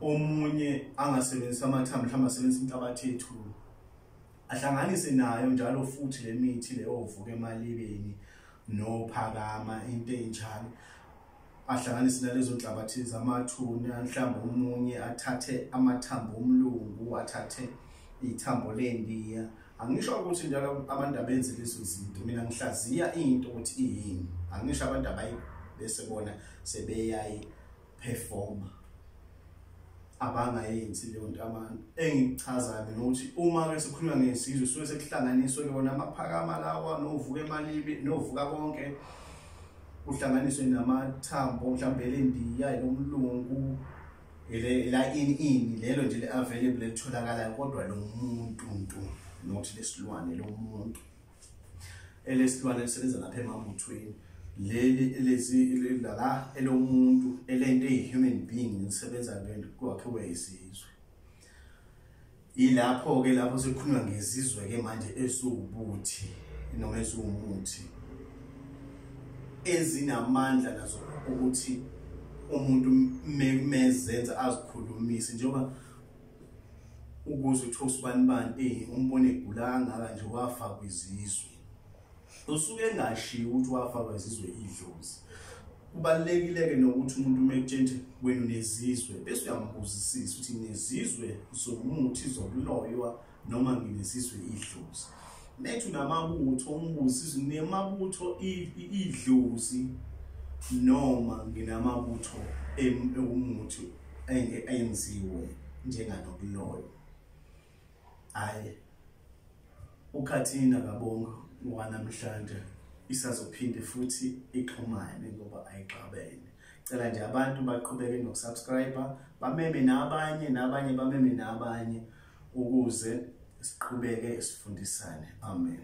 omunye angasebenzisa amathambo mhlawumbe asebenzisa inhlabathi yethulu ahlanganise nayo njalo futhi le mithi leyo ovuka emalibeni nophakama into enjalo ahlanganise nalezo nhlabathi zamathuna mhlawumbe omunye athathe amathambo omlungu athathe ithambo lendiya angisho ukuthi njalo abantu abenze lezo zinto mina ngihlaziya into ukuthi iyini angisho abantu abayi bese bona sebeyayi performer abangayenzi leyo nto abantu engichazayo mina ukuthi uma ke sikhuluma ngesizwe suke sekuhlanganiswe ke wona amaphakama lawa novuka emalibi novuka konke kuhlanganiswe namathambo mhlawumbe elendiya nomlungu la ini ini lelo nje le-available elitholakalayo kodwa lo muntu ntu not lesilwane lo muntu elesilwane elisebenza lapha emamuthweni leli elezi lala elomuntu elento eyi-human being elisebenza lento kwakhiwe izizwe yilapho-ke lapho sekukhulunywa ngezizwe-ke manje eziwubuthi noma eziwumuthi ezinamandla nazo ukuthi umuntu mezenza azikhulumise njengoba ukuze uthi usibani bani eyi umbone egula kangaka nje wafa kwizizwe usuke engashiyi ukuthi wafa kwezizwe idlozi kubalulekile-ke nokuthi umuntu uma etshentshe wenu nezizwe bese uyambuzisisa ukuthi nezizwe zomuthi zokuloywa noma nginezizwe idlozi nethi unamabutho umbuzisisa nemabutho idlozi noma nginamabutho ewumuthi ayenziwe njenganobuloyo hayi ukhathina kabongo wanamhlanje isazophinde futhi ixhumane ngoba ayixabene cela nje abantu baqhubeke nokusubscribe bameme nabanye nabanye bameme nabanye ukuze siqhubeke sifundisane amen